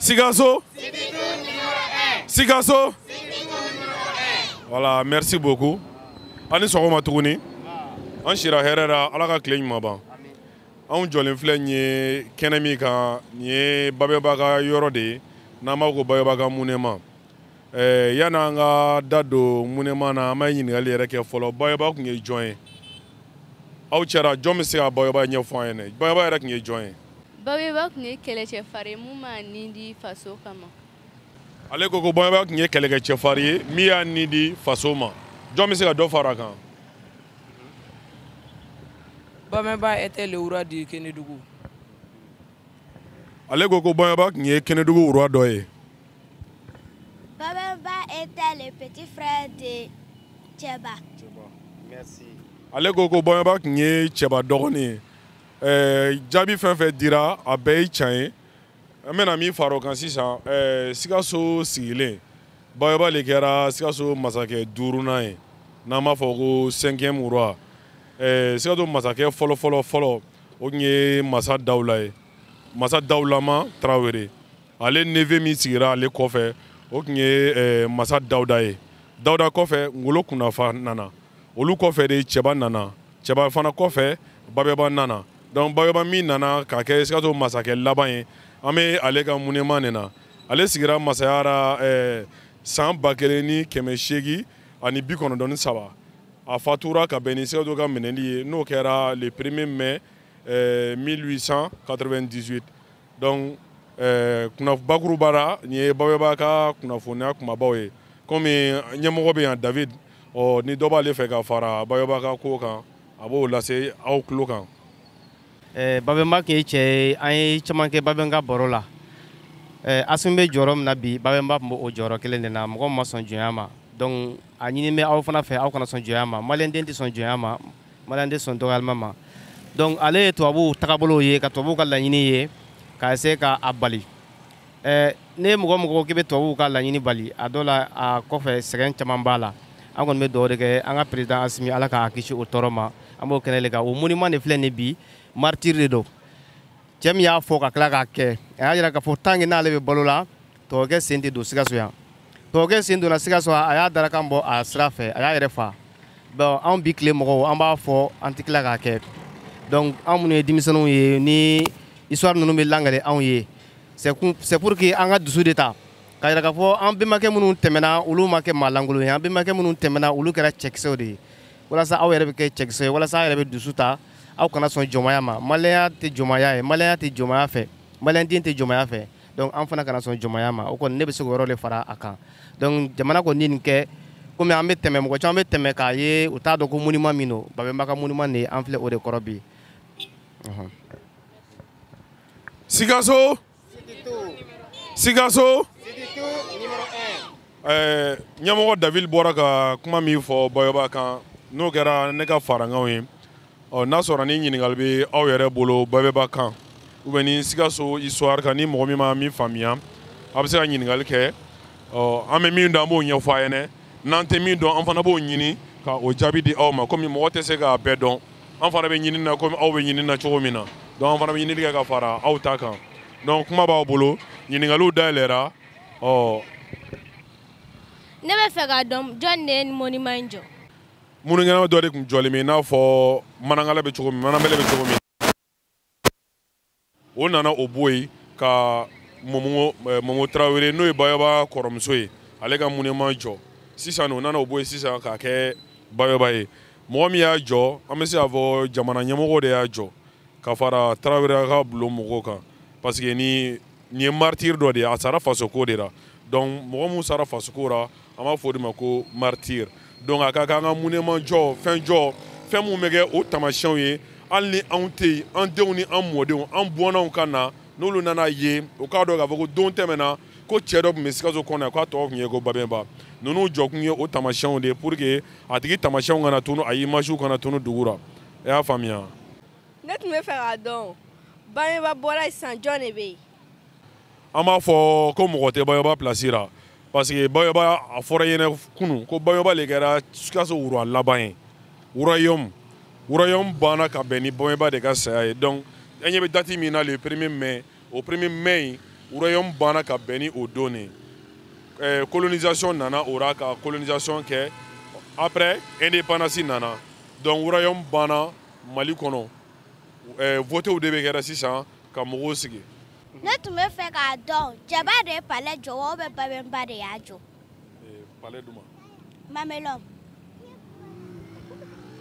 Sikaso Sikaso voilà merci beaucoup a ni sɔgɔma tuguni an sira hɛrɛ la ala ka tile ɲuman ban anw jɔlen filɛ nin ye kɛnɛ min kan nin ye babɛnba ka yɔrɔ de ye n'an b'a fɔ ko babɛnba ka monument eh, yani an ka da don monument na an bɛ ɲininkali yɛrɛ kɛ fɔlɔ babɛnba tun ye jɔn ye aw cɛra jɔn bɛ se ka babɛnba ɲɛfɔ an ɲɛna babɛnba yɛrɛ tun ye jɔn ye babɛnba tun ye kɛlɛkɛcɛfari ye min y'a ni di faso kama ale ko ko babɛnba tun ye kɛlɛkɛcɛfari ye min y'a ni di faso ma jɔn bɛ se ka dɔ fara a kan Babemba était le roi du Kénédougou ale ko ko babɛnba tun ye kɛnɛdugu roi dɔ ye Babemba était le petit frère de Tiéba. Merci. ale ko ko babɛnba tun ye cɛba dɔgɔnin ye Ɛɛ, jaabi fɛn fɛn dira a bɛɛ ye tiɲɛ ye an bɛna min fara o kan sisan ɛɛ, sikaso sigilen babɛnba de kɛra sikaso masakɛ duurunan ye n'an b'a fɔ ko cinquième roi Ɛɛ, sikaso masakɛ fɔlɔfɔlɔ fɔlɔ o tun ye masa dawula ye masa dawulama tarawele ale neveu min sigira ale kɔfɛ o tun ye eh, masa dawuda ye dawuda kɔfɛ ngolo kunnafa nana olu kɔfɛ de cɛba nana cɛba fana kɔfɛ babɛnba nana donc babɛnba min nana ka kɛ sikaso masakɛ laban ye an bɛ ale ka monument nin na ale sigira masaya ra eh, san ba kelen ni kɛmɛ seegin ani bi kɔnɔntɔn ni saba a fatura ka bɛn ni sikaso ka minɛli ye n'o kɛra le premier mai 1898 eh, donc eh, kunnaf bakuruba ra nin ye babɛnba ka kunnafoniya kumabaw ye komi ɲɛmɔgɔ bɛ yan david ɔ ni dɔ b'ale fɛ ka fara babɛnba ka ko kan a b'o lase aw tulo kan Eh, babɛnba tun ye cɛ ye an ye caman kɛ babɛnba ka baro la eh, asimi bɛ jɔyɔrɔ min na bi babɛnba tun bɛ o jɔyɔrɔ kelen de na mɔgɔ ma sɔn jɔnya ma donc a ɲini bɛ aw fana fɛ aw kana sɔn jɔnya ma maliyɛnden tɛ sɔn jɔnya ma maliyɛn tɛ sɔn dɔgɔyali ma donc ale ye tubabuw tagabolow ye ka tubabuw ka laɲini ye ka essayer ka a bali eh, ni mɔgɔ o mɔgɔ k'i bɛ tubabuw ka laɲini bali a dɔ la a kɔfɛ sɛgɛn caman b'a la an kɔni bɛ dugawu de kɛ an ka président asimi ala k'a kisi o tɔɔrɔ ma an b'o kɛnɛ le kan o monument de filɛ nin bi martyr de don cɛ min y'a fɔ ka tila k'a kɛ a y'a jira k'a fɔ tant que n'ale bɛ balo la tubabukɛ sen tɛ don sikaso yan tubabukɛ sen donna sikaso a y'a darakan bɔ a sira fɛ a y'a yɛrɛ fa bon anw bi tile mɔgɔw an b'a fɔ an tɛ tila k'a kɛ donc anw minnu ye denmisɛnninw ye ni histoire ninnu bɛ lakali anw ye c'est pour que an ka dusu de ta k'a jira k'a fɔ an bɛnbakɛ minnu tɛmɛna olu ma kɛ maa lankolon ye an bɛnbakɛ minnu tɛmɛna olu kɛra cɛkisɛw de ye walasa aw yɛrɛ bɛ kɛ cɛkisɛ ye walasa aw yɛrɛ bɛ dusu ta aw kana sɔn jɔnmaya ma maliyɛnya tɛ jɔnmaya ye maliyɛnya tɛ jɔnmaya fɛ maliyɛnden tɛ jɔnmaya fɛ donc an fana kana sɔn jɔnmaya ma o kɔni ne bɛ se k'o yɔrɔ de fara a kan donc jamana kɔni ye nin kɛ komi an bɛ tɛmɛ mɔgɔ caman bɛ tɛmɛ k'a ye u t'a dɔn ko monument min don babɛnba ka monument de ye an filɛ o de kɔrɔ bi Sikaso Sikaso ɛɛ ɲɛmɔgɔ David bɔra ka kuma min fɔ Babɛnba kan n'o kɛra ne ka farankanw ye ɔ n'a sɔrɔ ni ɲininkali bɛ aw yɛrɛ bolo Babɛnba kan ou bien ni Sikaso histoire kan ni mɔgɔ min ma min faamuya a bɛ se ka ɲininkali kɛ ɔ an bɛ min dɔn an b'o ɲɛfɔ a ɲɛna n'an tɛ min dɔn an fana b'o ɲini ka o jaabi di aw ma komi mɔgɔ tɛ se k'a bɛɛ dɔn. an fana bɛ ɲinini na komi aw bɛ ɲinini na cogo min na donc an fana bɛ ɲinini kɛ ka fara aw ta kan donc kuma b'aw bolo ɲininkaliw dayɛlɛra ɔ ne bɛ fɛ k'a dɔn jɔn de ye monument in jɔ monument dɔ de tun jɔlen bɛ i n'a fɔ manangala bɛ cogo min mananbɛlɛ bɛ cogo min o nana o bɔ yen ka mɔmɔ eh, mɔmɔ tarawele n'o ye babɛnba kɔrɔmuso ye ale ka monument jɔ sisan o nana o bɔ yen sisan k'a kɛ babɛnba ye mɔgɔ min y'a jɔ an bɛ se k'a fɔ jamana ɲɛmɔgɔ de y'a jɔ ka fara tarawele ka bulon mɔgɔw kan parce que ni nin ye martyr dɔ de ye a sara fasoko de la donc mɔgɔ min sara fasoko la an b'a fɔ o de ma ko martyr donc a ka kan an ka monument jɔ fɛn jɔ fɛn minnu bɛ kɛ o tamasiyɛnw ye hali ni anw tɛ yen an denw ni an mɔdenw an bɔnnaw ka na n'olu nan'a ye o k'a dɔn k'a fɔ ko don tɛmɛna ko cɛ dɔ tun bɛ sikaso kɔnɔ yan k'a tɔgɔ tun ye ko babɛnba ninnu jɔkun ye o tamasiyɛnw de ye pour que a tigi tamasiyɛnw kana tunu a imagew kana tunu dugu la i y'a faamuya ne tun bɛ fɛ k'a dɔn babɛnba bɔra sisan jɔn de bɛ yen an b'a fɔ ko mɔgɔ tɛ babɛnba pilasi la parce que babɛnba a fɔra aw ɲɛna kunu ko babɛnba le kɛra sikaso roi laban ye royaume royaume banna ka bɛn ni babɛnba de ka saya ye donc an ɲɛ bɛ dati min na le premier mai o premier mai in royaume banna ka bɛn ni o don de eh, colonisation nana o ra ka colonisation kɛ après indépendance nana donc royaume banna mali kɔnɔ eh, votew de bɛ kɛra sisan ka mɔgɔw sigi ne tun bɛ fɛ k'a dɔn cɛba de ye palais jɔ wa ou bien babɛnba de y'a jɔ eh, palais du ma mamelɔn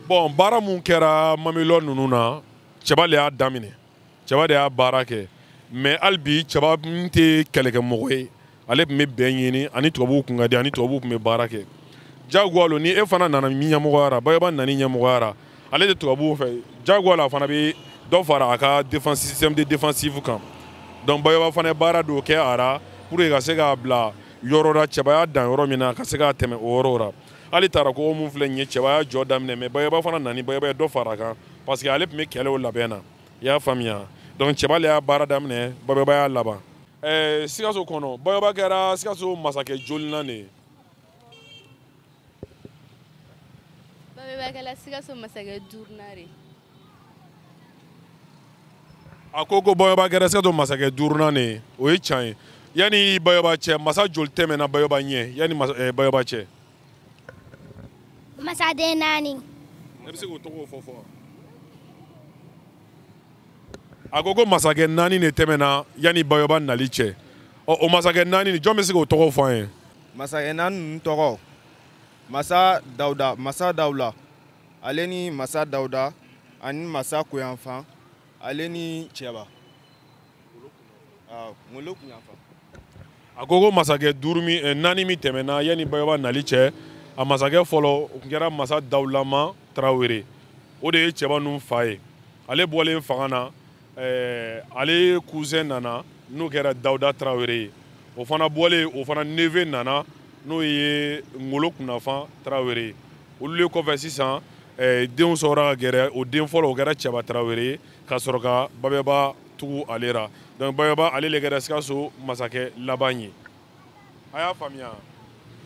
bon baara mun kɛra mamelɔn ninnu na cɛba de y'a daminɛ cɛba de y'a baara kɛ mais hali bi cɛba min tɛ kɛlɛkɛmɔgɔ ye ale tun bɛ bɛn ɲini ani tubabuw tun ka di ani tubabuw tun bɛ baara kɛ jagoya lo ni e fana nana min ɲɛmɔgɔyara babɛnba nani ɲɛmɔgɔyara ale de tubabuw fɛ jagoya la a fana bɛ dɔ fara a ka défense système de défensive kan donc babɛnba fana ye baara dɔw kɛ a ra pour que ka se k'a bila yɔrɔ la cɛba y'a dan yɔrɔ min na ka se ka tɛmɛ o yɔrɔw ra hali tata ko min filɛ nin ye cɛba y'a jɔ daminɛ mais babɛnba fana nani babɛnba ye dɔ fara a kan parce que ale tun bɛ kɛlɛw labɛn na i y'a faamuya donc cɛba le y'a baara daminɛ babɛnba y'a laban ɛɛ sikaso kɔnɔ babɛnba kɛra sikaso masakɛ jolinan de ye babɛnba kɛra sikaso masakɛ duurunan de a ko ko babɛnba kɛra sikaso masakɛ duurunan de ye o ye tiɲɛ ye yanni babɛnba cɛ masa joli tɛmɛna babɛnba ɲɛ yanni ɛɛ babɛnba cɛ masaden naani e bɛ se k'o tɔgɔw fɔ fɔ wa a ko ko masakɛ naani de tɛmɛna yanni babɛnba nali cɛ ɔ o masakɛ naani nin jɔn bɛ se k'o tɔgɔw fɔ an ye masakɛ naani ninnu tɔgɔ masa dawuda masa dawula ale ni masa dawuda ani masa kunyanfan ale ni cɛba ngolo kunyanfan a ko ko masakɛ duuru min eh, naani min tɛmɛna yanni babɛnba nali cɛ a masakɛ fɔlɔ o tun kɛra masa dawulaba tarawele o de ye cɛba ninnu fa ye ale bɔlen fanga na eh, ale cousin nana n'o kɛra dawuda tarawele ye o fana bɔlen o fana neveu nana n'o ye ngolo kunnafan tarawele ye olu le kɔfɛ sisan eh, denw sɔrɔra ka gɛrɛ o den fɔlɔ o kɛra cɛba tarawele ye ka sɔrɔ ka babɛnba tugu ale ra donc babɛnba ale le kɛra sikaso masakɛ laban ye a y'a faamuya